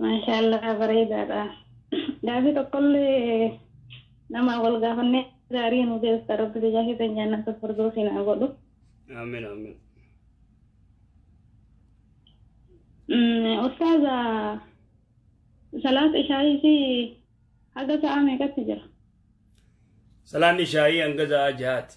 Maashaallah bareedaadha. Gaafii tokkollee namaa wal gaafannee gaarii nu deebista rabbi biyyaa keessan jaannata firdoosin haa godhu. Amin amin. Mm, Ustaaza salaata ishaayisii haga sa'aa meeqatti jira? Salaanni ishaayii hanga sa'aa jahaati.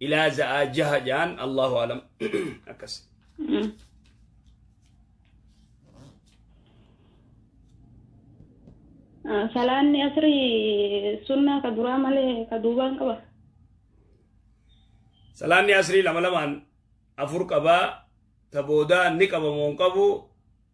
ilaa za'aa jaha ja'an allahu alam akkas Salaanni asrii sunnaa ka duraa malee ka duubaan qaba. salaanni asrii lama lamaan afur qabaa ta boodaa ni qabamoo hin qabu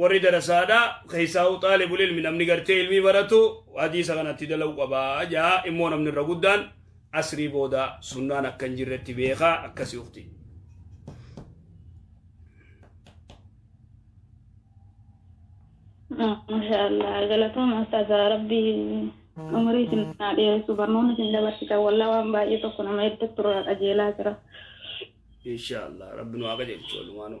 warri darasaadha keessaa'u xaalibul ilmi namni gartee ilmii baratu hadiisa kanatti dala'u qaba ja'a immoo namni irra guddaan asrii booda sunnaan akka hin jirretti beeka akkasi ukti Masha Allah. Galatooma Ustaaza Rabbii umurii isin naa dheeressu barnoonni isin dabarsitan wallah waan baay'ee tokko nama hedduu turraa qajeelaa jira. insha allah rabbi nu haa qajeelchu walumaanuu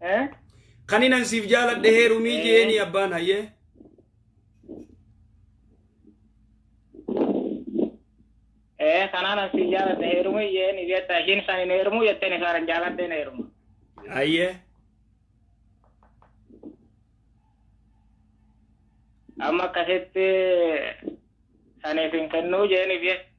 Eh? Kani nan siif jaaladhe heerumii Eh. jeeni abbaan hayyee. Eh, kanaan an si jaaladhe heerumii jeen jetta ishiin isaan hin heerumuu jetteen isaan hin jaaladhe hin heeruma. Hayyee. Amma akkasitti saniif hin kennuu jeeniif jette.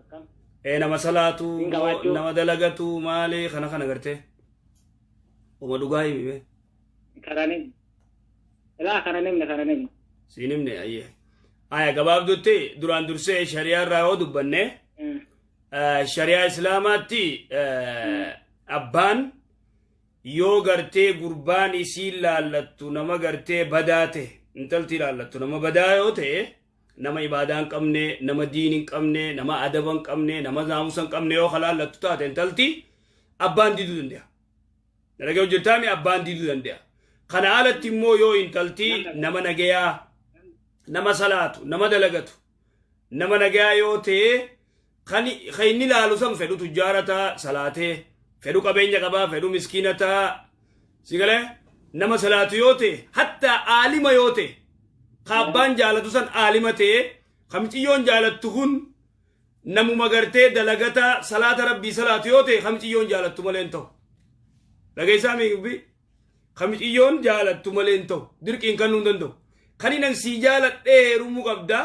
akkam ee nama salaatu Hin gabaachuu. nama dalagatu maali kana kana gartee uma dhugaa himi mee kana nim ilaa kana nimne kana nimne siin himne ayye aya gabaabdutti duraan dursee shariyaa irraa yoo dubbanne Mm. eh, shariyaa islaamaatti eh, abbaan yoo gartee gurbaan isiin laallattu nama gartee badaa ta'e intalti laallattu nama badaa yoo ta'e Nama ibaadaa hin qabne, nama diin hin qabne, nama adaba hin qabne, nama naamusa hin qabne yoo halaallattu taate intalti abbaan diiduu danda'a. Nagaya hojjettaami abbaan diiduu danda'a. Kana alatti immoo yoo intalti nama nagayaa, nama salaatu, nama dalagatu, nama nagayaa yoo ta'e Kan ka inni laalu san fedhu tujjaara taa salaatee, fedhu qabeenya qabaa, fedhu miskiina taa si galee nama salaatu yoo ta'e hattaa aalima yoo ta'e ka abbaan jaalatu san aalima ta'e ka miciyyoon jaalattu kun namuma gartee dalagataa salaata rabbii salaatu yoo ta'e ka miciyyoon jaalattu malee hin ta'u. Dhageessaa miigubbii ka miciyyoon jaalattu malee hin ta'u dirqiin kannuu hin danda'u. Kan inni sii jaaladhee heerumuu qabdaa.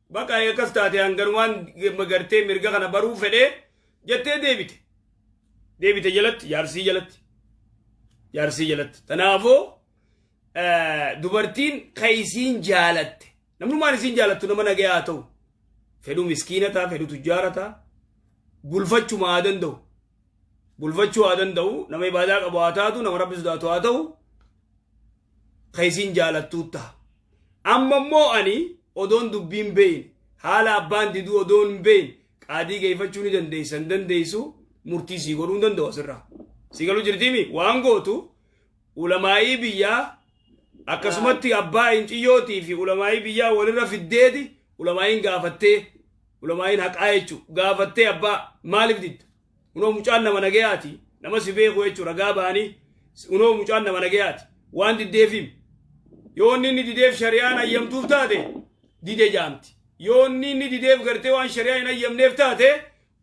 Baqa eekas taate hanganumaan gartee mirga kana baruu fedhee jettee deebite. Deebite jalatti jaarsii jalatti. Jaarsii jalatti. Tanaafuu dubartiin kan isiin jaalatte. Namnummaan isiin jaalattu nama nagaya haa ta'u. Fedhu miskiina ta'a, fedhu tujjaara ta'a. Bulfachuma haa danda'u. bulfachuu haa danda'u nama ibaadaa qabu haa taatu nama rabbi sodaatu haa ta'u ka isiin jaalattuu taha amma immoo ani odoon dubbiin beeyin haala abbaan diduu odoon hin beeyin qaadii geeffachuu ni dandeessa hin dandeessu murtii sii godhuu hin danda'u asirraa sii galuu jirtiimi waan gootu ulamaa'ii biyyaa akkasumatti abbaa inciyyootii fi ulamaa'ii biyyaa walirra fiddeeti ulamaa'iin gaafattee Ulamaa'iin haqaa jechuun gaafattee abbaa maaliif didda? Unoo mucaan nama nagayaati nama si beeku jechuun ragaa ba'anii unoo mucaan nama nagayaati waan diddeefiim. Yoo inni inni dideef shari'aan ayyamtuuf taate dide jaamti. Yoo inni inni dideef gartee waan shari'aa hin ayyamneef taate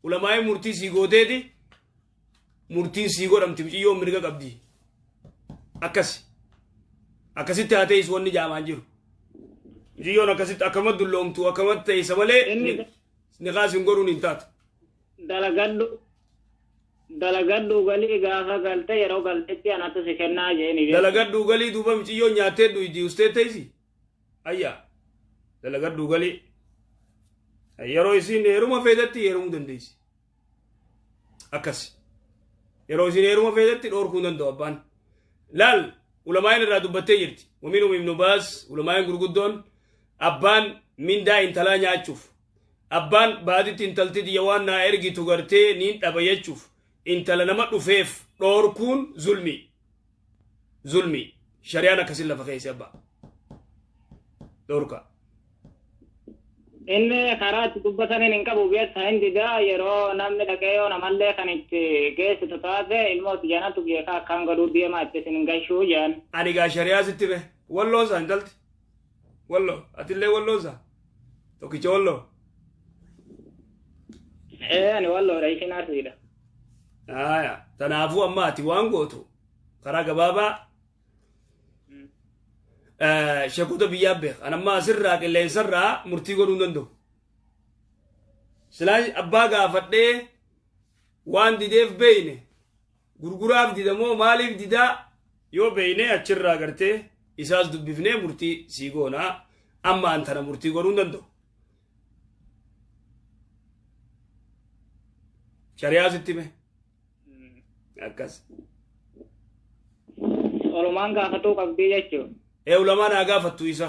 ulamaa'iin murtii sii gooteeti murtiin sii godhamti miciyyoon mirga qabdi akkasi akkasitti haa teessu wanni jaamaan jiru miciyyoon akkasitti akkamatti dulloomtu akkamatti teessa malee Inni ni- niqaas hin godhuun hin taatu dalagadhu dalagadhu galii gaafa galte yeroo galtetti anatu si kennaa jeeni dalagadhu galii duuba miciyyoon nyaattee dhuydi ustee teessi ayyaa dalagadhu galii yeroo isiin heeruma feetetti heerumuu dandeessi akkas yeroo isin heeruma feetetti dhoorkuu hin danda'u abbaan laal ulamaa'in irraa dubbattee jirti waminum ibnu baas ulamaa'in gurguddoon abbaan mindaa intalaa nyaachuuf abbaan baaditti intalti tiyya waan naa ergitu gartee niin dhaba jechuuf intala nama dhufeef dhoorkuun zulmii zulmii shari'aan akkasin lafa keessa abba dhorka inni karaa itti dubbataniin hin qabu beessa hin didaa yeroo namni dhaqee yoo namallee kan itti geessitu taate ilmoo tijanatu beekaa akkaan godhuu deemaa itti isin gashuu jaan ani gaa shari'aa sitti be walloo isaa intalti Wallo atillee walloo isaa tokkicha walloo. Ee ani walloodha isin arsiidha. Haaya tanaafuu amma ati waan gootu karaa gabaabaa eh, sheekota biyyaa beeka. An amma asirraa qilleensarraa murtii godhuu hin danda'u. Silaa abbaa gaafadhee waan dideef beeyne Gurguraaf dida moo maaliif didaa? Yoo beekne achirraa gartee isaas dubbifnee murtii sii goona. Amma an tana murtii godhuu hin danda'u. Shari'aa sitti hime. Akkas. Olumaan gaafatuu qabdii jechuudha. Ee ulamaan haa gaafattu isa.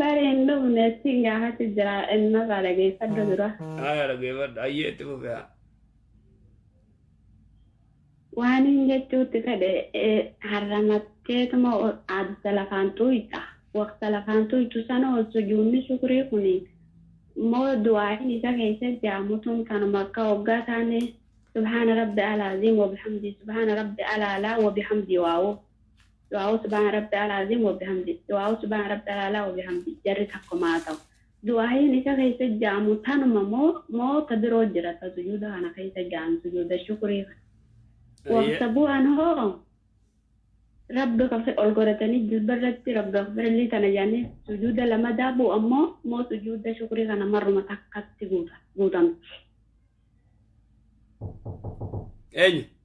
Bari hin dhumne siin gaafachu jira innarraa dhageeffadhu dura. Haya dhageeffadhu ayyee itti fufe haa. Waaniin jechuutti fedhe harramatteetuma adda lafaan tuuyxa. Waqta lafaan tuuyxu sana ol sujuunni shukrii kuni moo du'aayin isa keessa jaamutun kanuma akka hoggaa taane subhaana rabbi alaaziim wabihamdii subhaana rabbi alaalaa wabihamdii waawuu. Du'aa'uu subhaana rabbi'al aziim wa bihamdih, du'aa'uu subhaana rabbi'al a'laa wa bihamdih jarri takkuma haa ta'u. Du'aa'iin isa keessa ja'amu tanuma moo moo ta biroo jira ta sujuuda kana keessa ja'an sujuuda shukrii kana? Waqta bu'an hoo Rabbi kafir ol godhatanii jilba irratti Rabbi akbirlii tana ja'anii sujuuda lamadaa bu'an moo moo sujuuda shukrii kana marruma takkatti guuta guutamti? Eenyu?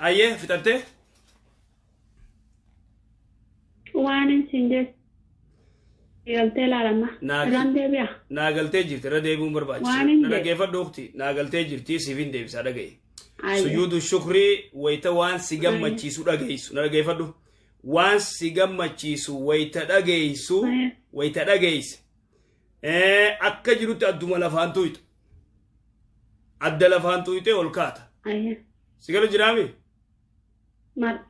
Ayyee fixattee? Waan isin jechuun galtee laalama. Naaf- Irraan deebi'a. Naa galtee jirti irra deebi'uun barbaachisa. Waan hin Na jedhe. dhaggeeffadhu ukti. Naa galtee jirti siif hin deebisaa dhaga'i. Ayyee. Sujuudu shukrii wayita waan si gammachiisu dhageessu. Na dhaggeeffadhu. Waan si gammachiisu wayita dhageessu Ayyee. wayita dhageesse. Eh, akka jirutti adduma lafaan tuyxa adda lafaan tuyxee ol kaata Ayya. si gala jiraami Mar-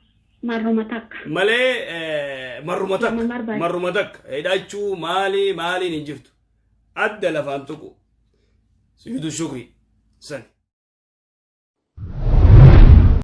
Marruma takka. malee eh, marruma takka Nama marbaate. marruma takka hidhachuu maali maaliin hin jirtu adda lafaan tuqu sujuudu shukri sani